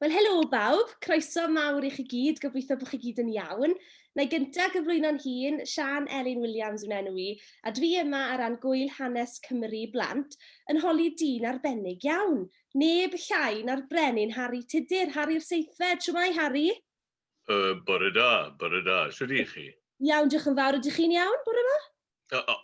Wel, helo bawb, croeso mawr i chi gyd, gobeithio bod chi gyd yn iawn. Na i gyntaf gyflwyno'n hun, Sian Elin Williams yn enw i, a dwi yma ar ran gwyl hanes Cymru blant, yn holi dyn arbennig iawn. Neb llai na'r brenin Harri Tudur, Harri'r Seithfed, siwmai Harri? Uh, bore da, bore da. Sut ydych chi? Iawn, diolch yn fawr. Ydych chi'n iawn, bore ma?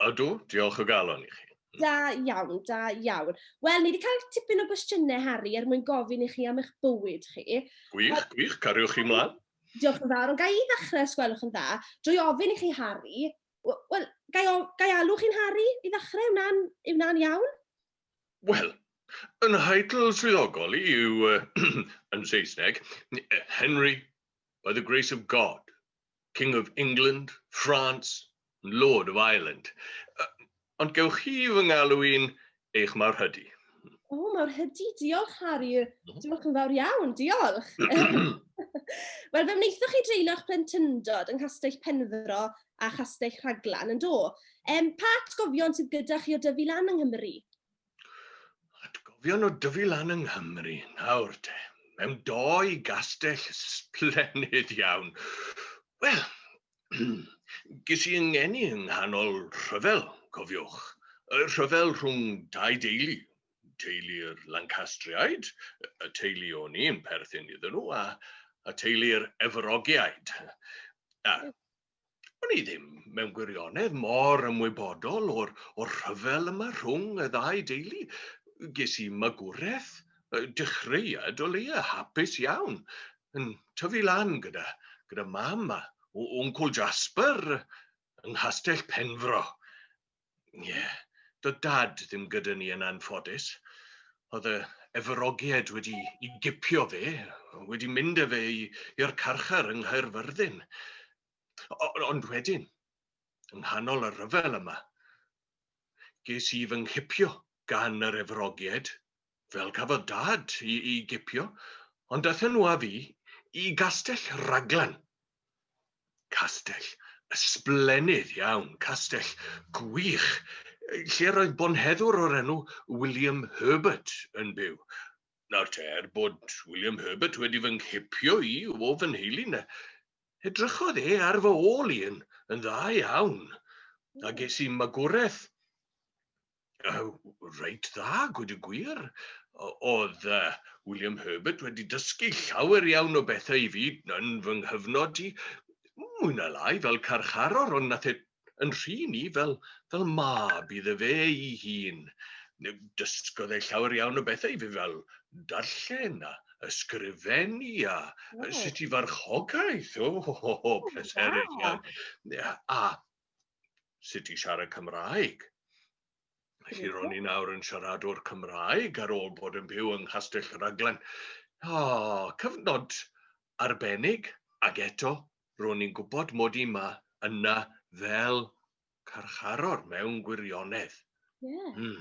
Ydw, diolch o galon i chi. Da iawn, da iawn. Wel, ni wedi cael tipyn o gwestiynau, Harry, er mwyn gofyn i chi am eich bywyd chi. Gwych, gwych, cariwch chi mlaen. Diolch yn fawr, ond gai i ddechrau os gwelwch yn dda, drwy ofyn i chi, Harry, wel, gai, gai alw chi'n Harry i ddechrau, yw'n iawn? Wel, yn nheitl swyddogol yw, yn Saesneg, Henry, by the grace of God, King of England, France, and Lord of Ireland. Ond gewch chi fy ngalw i'n eich mawr hydy. O, oh, mawr hydy, diolch Harry. Mhm. Diolch yn fawr iawn, diolch. Wel, fe wnaethoch chi dreulio'ch plentyndod yng Nghastell Penfro a Chastell Rhaglan, yn do? Um, pa atgofion sydd gyda chi o dyfu lan yng Nghymru? Atgofion o dyfu lan yng Nghymru, nawr te. Mewn doi gastell splennid iawn. Wel, ges i yngeni yng nghanol rhyfel, cofiwch. Y rhyfel rhwng dau deulu, teulu'r Lancastriaid, y teulu o'n i'n perthyn iddyn nhw, a, a teulu'r Efrogiaid. A O'n i ddim, mewn gwirionedd, mor ymwybodol o'r, or rhyfel yma rhwng y ddau deulu. Ges i magwraeth, dechreuad o leia hapus iawn, yn tyfu lan gyda, gyda mam a wncwl Jasper yng Nghastell Penfro. Ie, doedd Dad ddim gyda ni yn anffodus. Oedd y efyrogiaid wedi i gipio fe, wedi mynd â fe i'r carchar yng Nghaerfyrddin. Ond wedyn, yng nghanol y rhyfel yma, ges i fy nghipio gan yr efyrogiaid, fel cafodd Dad i, i gipio, ond daethon nhw â fi i Gastell Raglan Castell ysblennydd iawn, castell gwych, lle roedd bonheddwr o'r enw William Herbert yn byw. Nawr te, er bod William Herbert wedi fy nghipio i o fy nheulu, na, edrychodd e ar fy ôl i yn, yn dda iawn, a ges i magwraeth reit dda, gwed y gwir. Oedd uh, William Herbert wedi dysgu llawer iawn o bethau i fi yn fy nghyfnod i, mwy na lai fel carcharor, ond nath e yn rhy ni fel, fel mab iddo fe ei hun. Dysgodd e llawer iawn o bethau i fi fel darllen a ysgrifennu a oh. sut i farchogaeth. O, oh, oh, oh, pleserus iawn. A sut i siarad Cymraeg. Felly ro'n i nawr yn siaradwr Cymraeg ar ôl bod yn byw yng Nghastell Rhaglen. O, cyfnod arbennig, ac eto, ro'n i'n gwybod mod i yma yna fel carcharor mewn gwirionedd. Yeah. Mm.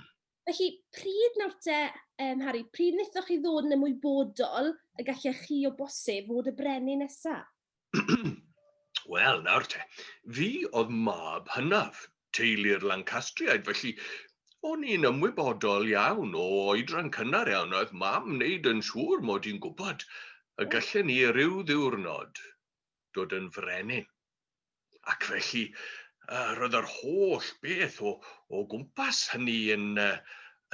Felly, pryd nawr te, yym, Harri, pryd wnaethoch chi ddod yn ymwybodol y gallech chi o bosib fod y brenin nesa? Wel, nawr te, fi oedd mab hynaf, teulu'r Lancastriaid, felly o'n i'n ymwybodol iawn o oedran cynnar iawn, oedd mam wneud yn siŵr mod i'n gwybod y gallen ni ryw ddiwrnod dod yn frenin. Ac felly, uh, roedd yr holl beth o, o gwmpas hynny yn, uh,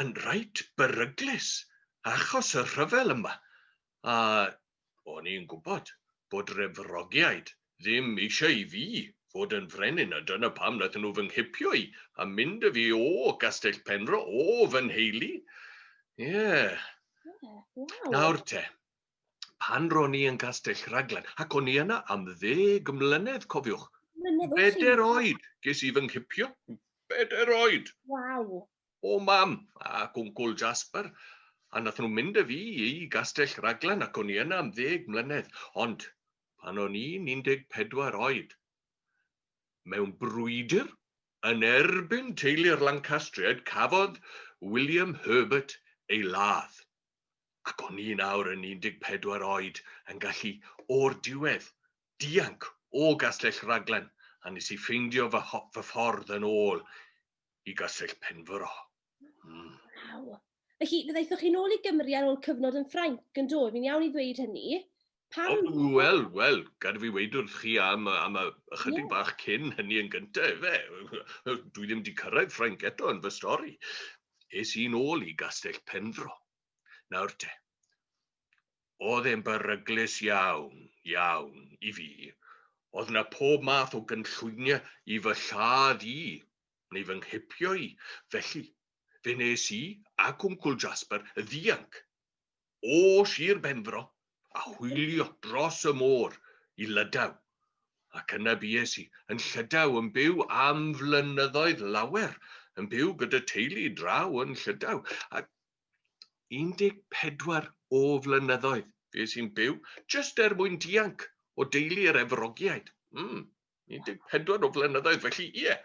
yn reit beryglus achos y rhyfel yma. A o'n i'n gwybod bod refrogiaid ddim eisiau i fi fod yn frenin, a dyna pam nath nhw fy nghipio i a mynd y fi o Gastell Penfro, o fy nheulu. Ie. Yeah. Yeah, wow. Nawr te, pan ro'n i yn Castell Rhaglan, ac o'n i yna am ddeg mlynedd, cofiwch. Mlynedd Bedair oed, ges i fy nghipio. Bedair oed. Waw. O mam, a gwncwl Jasper. A nath nhw mynd â fi i Gastell Rhaglan ac o'n i yna am ddeg mlynedd. Ond pan o'n i'n 14 oed, mewn brwydr yn erbyn teulu'r Lancastriaid, cafodd William Herbert ei ladd. ac o'n i nawr yn 14 oed yn gallu, o'r diwedd, dianc o Gastell Raglan a nes i ffeindio fy, fy ffordd yn ôl i Gastell Penfro. Mm. Wow. Felly, fe ddaethoch chi'n ôl i Gymru ar ôl cyfnod yn Ffrainc, yn do? Fi'n iawn i ddweud hynny? Pam? O, wel, wel, gad fi weid wrth chi am, am a, ychydig yeah. bach cyn hynny yn gyntaf, efe. Dwi ddim wedi cyrraedd Ffrainc eto yn fy stori. Es i'n ôl i Gastell Penfro. Nawr te, oedd e'n beryglus iawn, iawn i fi. Oedd na pob math o gynllwyniau i fy lladd i, neu fy nghipio i. Felly, fe nes i a Cwncwl Jasper y ddianc o Sir Benfro a hwylio dros y môr i Lydaw, ac yna bues i yn Llydaw yn byw am flynyddoedd lawer, yn byw gyda teulu draw yn Llydaw, a 14 o flynyddoedd fues i'n byw jyst er mwyn dianc o deulu yr Efrogiaid. Mm. 14 o flynyddoedd, felly ie.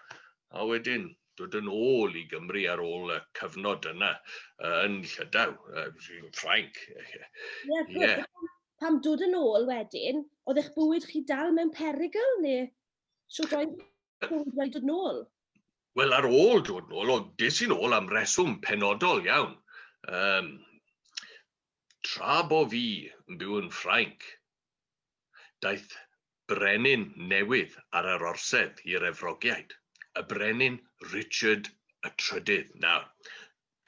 A wedyn dod yn ôl i Gymru ar ôl y cyfnod yna uh, yn Llydaw, uh, Ffrainc. Ie, yeah. pam dod yn ôl wedyn, oedd eich bywyd chi dal mewn perygl neu sut oedd bywyd wedi dod yn ôl? Wel, ar ôl dod yn ôl, o, des i'n ôl am reswm penodol iawn. Um, tra bo fi yn byw yn Ffrainc, Daeth brenin newydd ar yr orsedd i'r Efrogiaid, y brenin Richard y Trydydd. Nawr,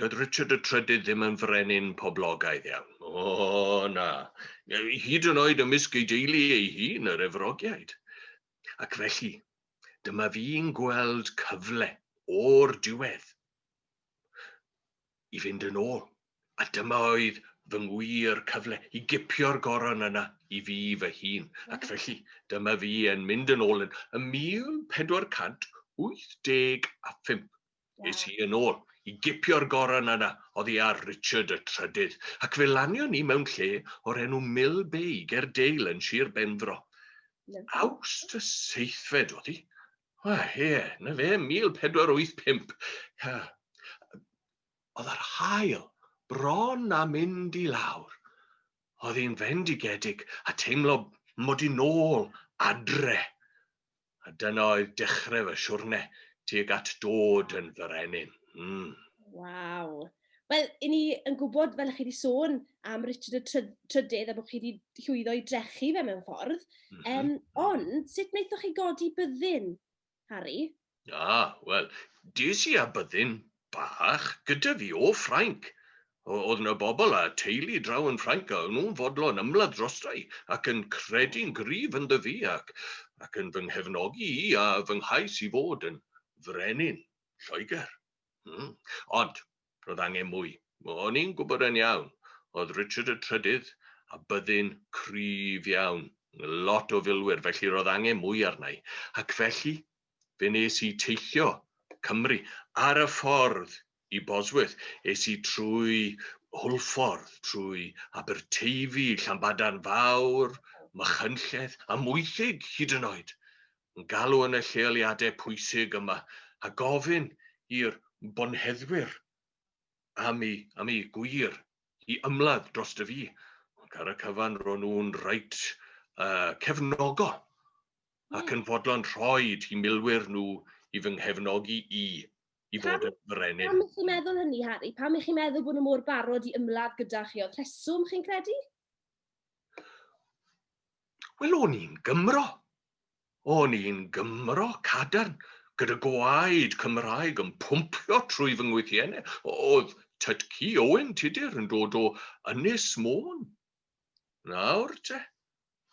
doedd Richard y Trydydd ddim yn frenin poblogaidd iawn. O, na. Hyd yn oed ymysg ei deulu ei hun, yr Efrogiaid. Ac felly, dyma fi'n gweld cyfle o'r diwedd. i fynd yn ôl, a dyma oedd fy ngwir cyfle i gipio'r goron yna i fi fy hun, ac felly dyma fi yn mynd yn ôl yn, yn 1485. Es i yn ôl i gipio'r goron yna oddi ar Richard y Trydydd, ac fe lanion ni mewn lle o'r enw Mill Bay, ger Dale yn Sir Benfro. Awst y seithfed oedd hi, O ie, 'na fe, 1485. Ia. O'dd yr haul bron a mynd i lawr. O'dd 'i'n fendigedig a teimlo mod i nôl adre. A dyna oedd dechre fy siwrne tuag at dod yn frenin. Hmm. Waw. Wel, i ni yn gwybod, fel chi wedi sôn, am Richard y Trydydd a bod chi wedi llwyddo i drechu fe mewn ffordd. Mm -hmm. um, ond, sut wnaethoch chi godi byddin, Harry? Ah, wel, dis i a byddin bach gyda fi o Ffrainc. Oedd yna bobl a teulu draw yn Ffrainc a o'n nhw'n fodlon ymladd drosta i ac yn credu'n gryf yn ddyfu ac, ac yn fy nghefnogi i a fy nghais i fod yn frenin Lloegr. Hmm. Ond, roedd angen mwy. O'n i'n gwybod yn iawn, oedd Richard y Trydydd a byddin cryf iawn, lot o filwyr, felly roedd angen mwy arna i. Ac felly, fe nes i teithio Cymru ar y ffordd i Bosworth. Es i trwy Hwlffordd, trwy Aberteifi, Llanbadarn Fawr, Machynlleth, a Mwythig hyd yn oed. yn galw yn y lleoliadau pwysig yma a gofyn i'r bonheddwyr am eu, am eu gwir i ymladd dros dy fi. Ac ar y cyfan ro'n nhw'n reit uh, cefnogo ac yn fodlon rhoi i milwyr nhw i fy nghefnogi i i fod yn frenin. Pam ych chi'n meddwl hynny, Harry? Pam ych chi'n meddwl bod nhw mor barod i ymladd gyda chi? Oedd rheswm chi'n credu? Wel, o'n i'n Gymro. O'n i'n Gymro cadarn, gyda gwaed Cymraeg yn pwmpio trwy fy ngwythienne. O'dd Tytci Owen Tudur yn dod o Ynys Môn. Nawr te.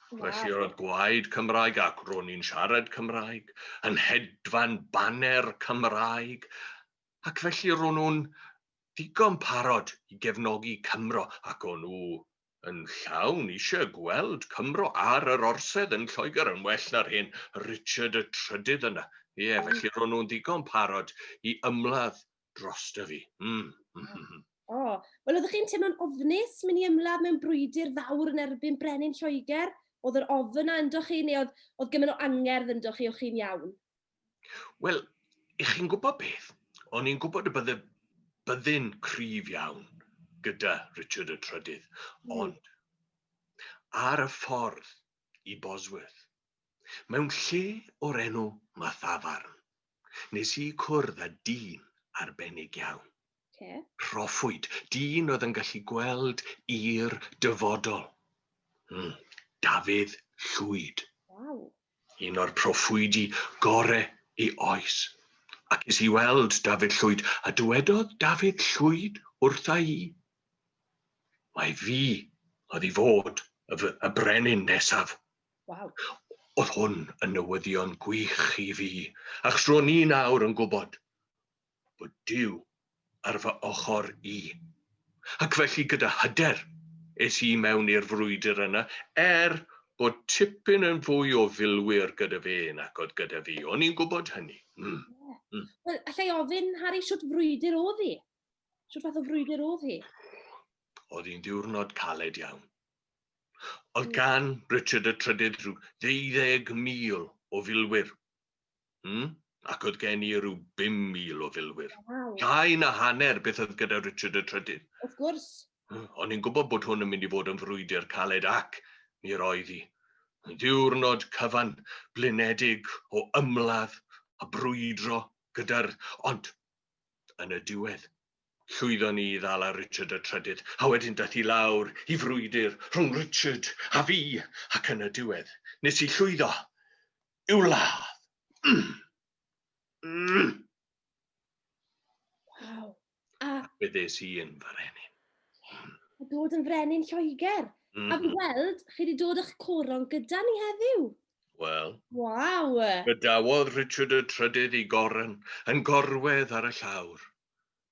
Felly roedd gwaed Cymraeg ac ro'n i'n siarad Cymraeg, yn hedfan baner Cymraeg, ac felly ro'n nhw'n ddigon parod i gefnogi Cymro, ac o'n nhw yn llawn eisiau gweld Cymro ar yr orsedd yn Lloegr yn well na'r hen Richard y Trydydd yna. Ie, oh. felly ro'n nhw'n ddigon parod i ymladd dros dy fi. Mm. O, oh. wel oeddech chi'n teimlo'n ofnus mynd i ymladd mewn brwydr fawr yn erbyn brenin Lloegr? Oedd yr ofn yna ynddo chi neu oedd, oedd gymaint o angerdd ynddo chi o'ch chi'n iawn? Wel, i chi'n gwybod beth, o'n i'n gwybod y bydde byddin cryf iawn gyda Richard y Trydydd, mm. ond ar y ffordd i Bosworth, mewn lle o'r enw Mathafarn, nes i cwrdd â dyn arbennig iawn. Okay. Rhoffwyd, dyn oedd yn gallu gweld i'r dyfodol. Mm. Dafydd Llwyd. Wow. Un o'r proffwydi gore i oes. Ac es i weld Dafydd Llwyd, a dywedodd Dafydd Llwyd wrtha i, Mai fi oedd i fod y, y brenin nesaf. Wow. Oedd hwn yn newyddion gwych i fi, achos ro'n i'n awr yn gwybod bod Duw ar fy ochr i. Ac felly gyda hyder es i mewn i'r frwydr yna, er bod tipyn yn fwy o filwyr gyda fe nac oedd gyda fi. O'n i'n gwybod hynny. Mm. Mm. Wel, allai ofyn, Harry, sut frwydr oedd hi? Sut fath o frwydr oedd hi? Oedd hi'n ddiwrnod caled iawn. Oedd gan Richard y Trydydd rhyw ddeuddeg mil o filwyr Hmm? Ac oedd gen i rhyw 5,000 o filwyr. Wow. Llai na hanner beth oedd gyda Richard y Trydydd. Wrth gwrs. Hmm, o'n i'n gwybod bod hwn yn mynd i fod yn frwydr caled ac mi roedd hi. Diwrnod cyfan, blinedig o ymladd a brwydro gyda'r... Ond, yn y diwedd, llwyddon ni i ddal ar Richard y Trydydd, a wedyn dath i lawr i frwydr rhwng Richard a fi, ac yn y diwedd, nes i llwyddo. i'w ladd. Mm. Mm. Waw. A... Fe ddes i yn frenin. A dod yn frenin Lloegr. Mm. A fi mm-hmm. weld, chi wedi dod â'ch coron gyda ni heddiw. Wel. Waw. Bydawodd Richard y Trydydd i goron yn gorwedd ar y llawr.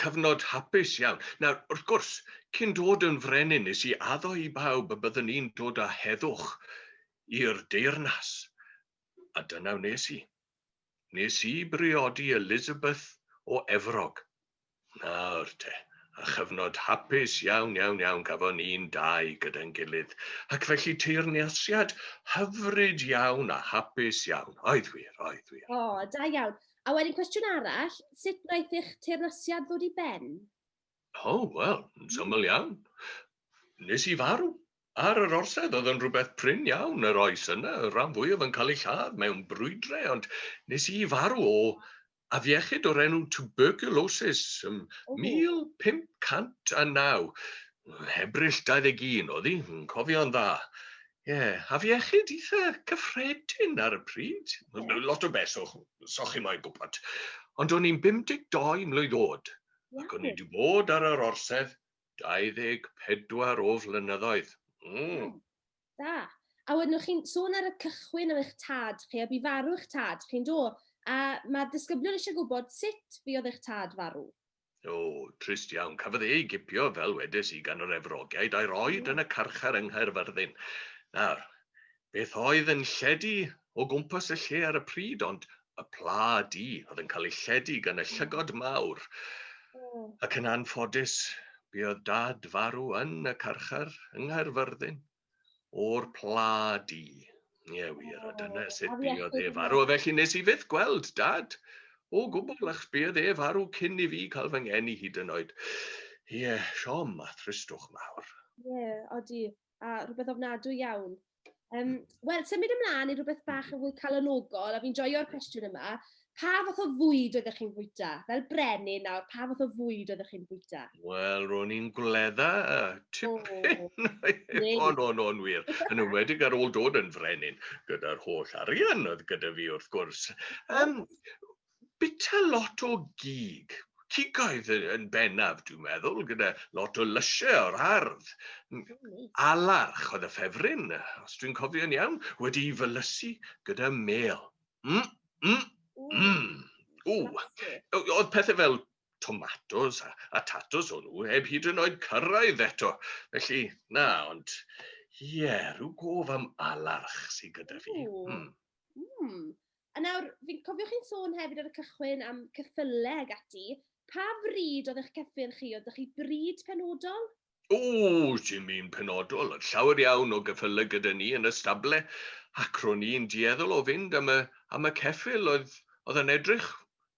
cyfnod hapus iawn. Nawr, wrth gwrs, cyn dod yn frenin, nes i addo i bawb y byddwn i'n dod â heddwch i'r deyrnas. A dyna wnes i. Nes i briodi Elizabeth o Efrog. Nawr te, a chyfnod hapus iawn, iawn, iawn gafon ni'n dau gyda'n gilydd. Ac felly teyrnasiad hyfryd iawn a hapus iawn. Oedd wir, oedd wir. O, da iawn. A wedyn cwestiwn arall, sut wnaeth eich teyrnasiad ddod i ben? O, oh, wel, yn syml iawn. Nes i farw. Ar yr orsedd oedd yn rhywbeth prin iawn yr oes yna, y rhan fwyaf yn cael ei lladd mewn brwydre, ond nes i farw o afiechyd o'r enw tuberculosis ym 1509. Hebrill 21 oedd hi, yn cofio'n dda. Ie, afiechyd eitha cyffredin ar y pryd. Lot o beth, so chi moyn gwybod. Ond o'n i'n 52 mlwydd oed, ac o'n i wedi bod ar yr orsedd 24 o flynyddoedd. Mm. Da. A wedyn o'ch chi'n sôn ar y cychwyn am eich tad chi, a bu farw eich tad chi'n do? A mae disgyblion eisiau gwybod sut fi oedd eich tad farw. O, trist iawn. Cafodd e ei gipio, fel wedes i, gan yr Efrogiaid a'i roed yn y carchar yng Nghaerfyrddin. Nawr, beth oedd yn lledu o gwmpas y lle ar y pryd, ond y pla di oedd yn cael ei lledu gan y llygod mawr. Hmm. Ac yn anffodus, buodd dad farw yn y carchar yng Nghaerfyrddin. o'r pla di. Ie wir, a dyna sut buodd e farw. Felly nes i fyth gweld dad o gwbl, achos buodd e farw cyn i fi cael fy ngeni hyd yn oed. Ie, siom a thristwch mawr. Ie, odi, a rhywbeth ofnadwy iawn. Um, Wel, symud ymlaen i rhywbeth bach yn fwy calonogol, a fi'n joio'r cwestiwn yma. Pa fath o fwyd oeddech chi'n fwyta? Fel brenin nawr, pa fath o fwyd oeddech chi'n fwyta? Wel, ro'n i'n gwledda y tipyn. O, no, no, yn wir. Yn ymwedig ar ôl dod yn frenin, gyda'r holl arian oedd gyda fi, wrth gwrs. Um, bita lot o gig, cigoedd yn bennaf, dwi'n meddwl, gyda lot o lysiau o'r ardd. Alarch oedd y ffefryn, os dwi'n cofio'n iawn, wedi i fylysu gyda mel. Mm, mm, mm. O, oedd pethau fel tomatos a, a tatos o'n nhw heb hyd yn oed cyrraedd eto. Felly, na, ond ie, yeah, rhyw gof am alarch sydd gyda fi. Mm. Mm. A nawr, fi'n cofio chi'n sôn hefyd ar y cychwyn am cyffylau ag ati. Pa fryd oedd eich cyffyn chi? Oedd chi bryd penodol? O, dim un penodol, oedd llawer iawn o geffylau gyda ni yn y stable, ac ro'n ni'n dueddol o fynd am y, am y ceffyl oedd, oedd yn edrych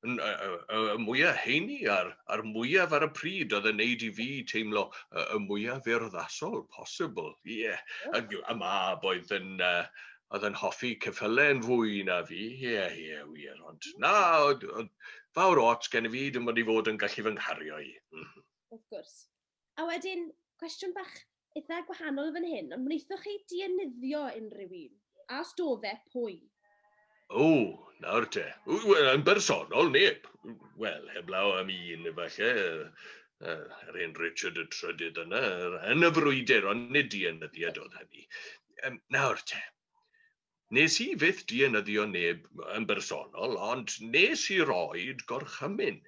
yn, y, y, y mwyaf heini a'r, a'r mwyaf ar y pryd oedd yn neud i fi teimlo y, y mwyaf urddasol posibl. Ie, yeah. a, a mab oedd yn, uh, oedd yn hoffi ceffylau yn fwy na fi, ie, yeah, ie, yeah, wir, ond na, oedd, oedd fawr ots gen i fi, dim ond i fod yn gallu fy nghario i. Mm. Wrth gwrs. A wedyn, cwestiwn bach eitha' gwahanol fan hyn, ond wnaethoch chi dienyddio unrhyw un? A os do fe, pwy? O, nawr te. Wel, yn bersonol, neb. Wel, heblaw am un, efallai, yr hen Richard y Trydydd yna, yn y frwydr, ond nid dienyddiad oedd hynny. Nawr te, Nes i fyth dienyddio neb yn bersonol, ond nes i roid gorchymyn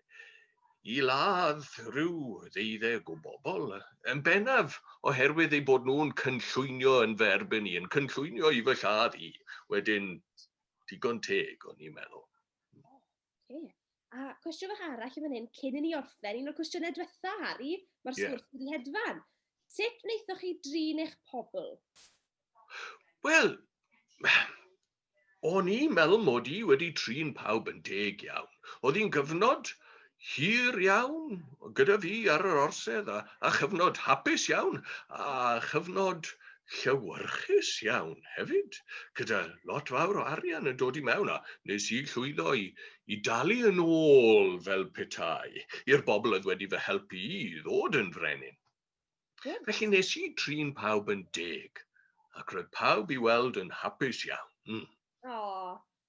i ladd rhyw ddeuddeg o bobl, yn bennaf oherwydd eu bod nhw'n cynllwynio yn fy erbyn i, yn cynllwynio i fy lladd i. Wedyn, digon teg, o'n i'n meddwl. Okay. A cwestiwn fach arall yn fan hyn, cyn i ni orffen, un o'r cwestiynau diwetha, Harry, mae'r yeah. sgwrs wedi hedfan. Sut wnaethoch chi drin eich pobl? Wel, o'n i'n meddwl mod i wedi trin pawb yn deg iawn. Oedd hi'n gyfnod hir iawn gyda fi ar yr orsedd a, a chyfnod hapus iawn a chyfnod llewyrchus iawn hefyd, gyda lot fawr o arian yn dod i mewn, a nes i llwyddo i, i dalu yn ôl fel petai i'r bobl oedd wedi fy helpu i ddod yn frenin. Yeah. Felly nes i trin pawb yn deg, ac roedd pawb i weld yn hapus iawn. Mm. Oh,